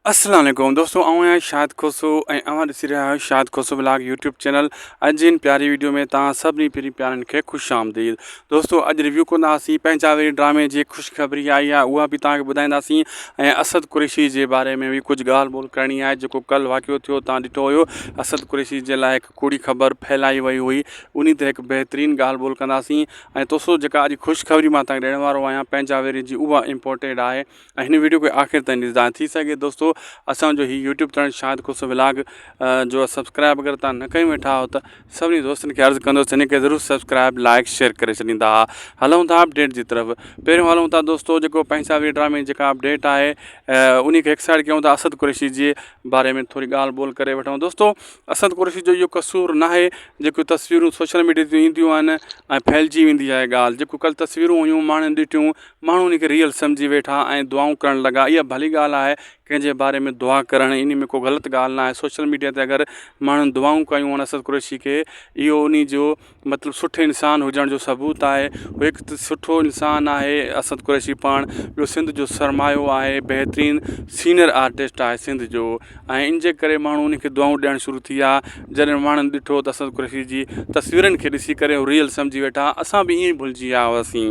اسلام عليڪم دوستو آئون آهيان شاد کوسو ۽ اوهان ڏسي رهيا آهيو Shad Khoso blog YouTube channel اڄ جي ان پياري ويڊيو ۾ توهان سڀني پھرين پيارن کي خوش آمديد دوستو اڄ ريويو ڪنداسين پنهنجا وري ڊرامي جي خوشخبري آئي آهي اها به توهان کي ٻڌائينداسين ۽ اسد قريشي جي باري ۾ به ڪجهه ڳالهه ٻولهه ڪرڻي آهي جيڪو ڪل واقعو ٿيو توهان ڏٺو هيو اسد قريشي جي لاء هڪ ڪوڙي خبر ڦهلائي وئي هئي انهي تي هڪ بهترين ڳالهه ٻولهه ڪنداسين ۽ دوستو جيڪا اڄ خوشخبري مان توهان کي ڏيڻ وارو آهيان پنهنجا وري جي اها امپورٽيڊ آهي ۽ هن ويڊيو کي آخر تائين ڏسجان ۽ ٿي سگهي دوستو اسان جو هي YouTube channel Shahid Khoso vlog جو سبسڪرائب اگر تان نه ڪيون ويٺا آهو ته سڀني دوستن کي عرض ڪندوس هن کي ضرور سبسڪرائب لائڪ شيئر ڪري ڇڏيندا هلون ٿا اپڊيٽ جي طرف پهريون هلون ٿا دوستو جيڪو پنهنجا وي ڊرامي جيڪا اپڊيٽ آهي انهي کي هڪ سائيڊ ڪيون ٿا اسد قريشي جي باري ۾ ٿوري ڳالهه ٻولهه ڪري وٺون دوستو اسد قريشي جو اهو قصور نه آهي جيڪو تصويرون سوشل ميڊيا تي اينديون آهن ۽ ڦهلجي ويندي آهي ڳالهه جيڪو ڪل تصويرون هيون ماڻهن ڏٺيون ماڻهو ان کي ريئل سمجهي ويٺا ۽ دعائون ڪرڻ لڳا اها ڀلي ڳالهه آهي ڪنهن جي باري ۾ دعا ڪرڻ ان ۾ ڪو غلط ڳالهه ناهي سوشل ميڊيا تي اگر ماڻهن دعائون ڪيون ان اسد قريشي کي اهو ان جو مطلب سٺي انسان هجڻ جو ثبوت آهي هو هڪ سٺو انسان آهي اسد قريشي پاڻ ٻيو سنڌ جو سرمايو آهي بهترين سينئر آرٽسٽ آهي سنڌ جو ۽ ان جي ڪري ماڻهو ان کي دعائون ڏيڻ شروع ٿي ويا جڏهن ماڻهن ڏٺو ته اسد قريشي جي تصويرن کي ڏسي ڪري هو ريئل سمجهي ويٺا اسان به ائين ڀلجي ويا هئاسين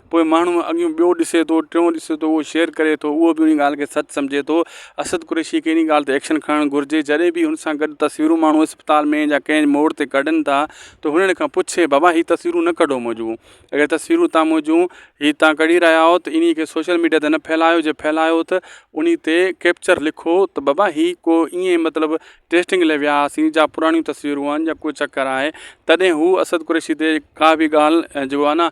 پوء ماڻهو اڳيون ٻيو ڏسي ٿو ٽيون ڏسي ٿو اهو شيئر ڪري ٿو اهو بي ان ڳالهه کي سچ سمجهي ٿو اسد قريشي کي ان ڳالهه تي ايڪشن کڻڻ گهرجي جڏهن به ان سان گڏ تصويرون ماڻهو اسپتال ۾ يا ڪنهن موڙ تي ڪڍن ٿا ته هنن کان پڇي بابا هي تصويرون نه ڪڍو منهنجون اگر تصويرون تان منهنجون هي تان ڪڙي رهيا آهو ته انهي کي سوشل ميڊيا تي نه ڦهلايو جي ڦهلايو ته انهي تي ڪيپچر لکو ته بابا هي ڪو ايئن مطلب ٽيسٽنگ لاء ويا هئاسين جا پراڻيون تصويرون آهن يا ڪو چڪر آهي تڏهن هو اسد قريشي تي ڪا به ڳالهه جو آهي نه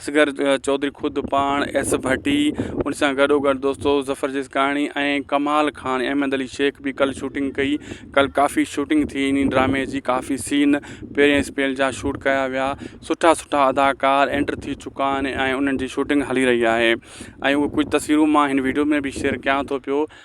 اصغر چوڌري خود پاڻ ايس ڀٽي ان سان گڏوگڏ دوستو ظفر جسڪاڻي ۽ ڪمال خان ۽ احمد علي شيخ به ڪل شوٽنگ ڪئي ڪل ڪافي شوٽنگ ٿي ان ڊرامي جي ڪافي سين پهرين اسپيل جا شوٽ ڪيا ويا سٺا سٺا اداڪار اينٽر ٿي چڪا آهن ۽ انهن جي شوٽنگ هلي رهي آهي ۽ اهو ڪجهه تصويرون مان هن ويڊيو ۾ به شيئر ڪيان ٿو پيو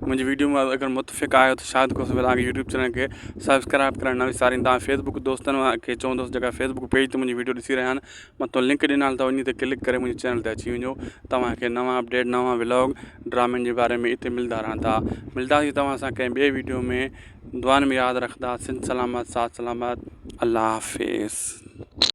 منهنجي وڊيو مان اگر متفق آهيو ته شاهد کوسي ولاگ يوٽيوب چينل کي سبسڪرائب ڪرڻ نه وسارين تان فيس بڪ دوستن کي چوندس جيڪا فيس بڪ پيج تي منهنجي وڊيو ڏسي رهيا آهن متو لنڪ ڏنال اٿو انهي تي ڪلڪ ڪري منهنجي چينل تي اچي وڃو توهان کي نوان اپڊيٽ نوان ولاگ ڊرامن جي باري ۾ اتي ملدا رهن ٿا ملداسي توهان سان ڪنهن ٻي وڊيو ۾ دعان ۾ ياد رکدا سنڌ سلامت ساٿ سلامت الله حافظ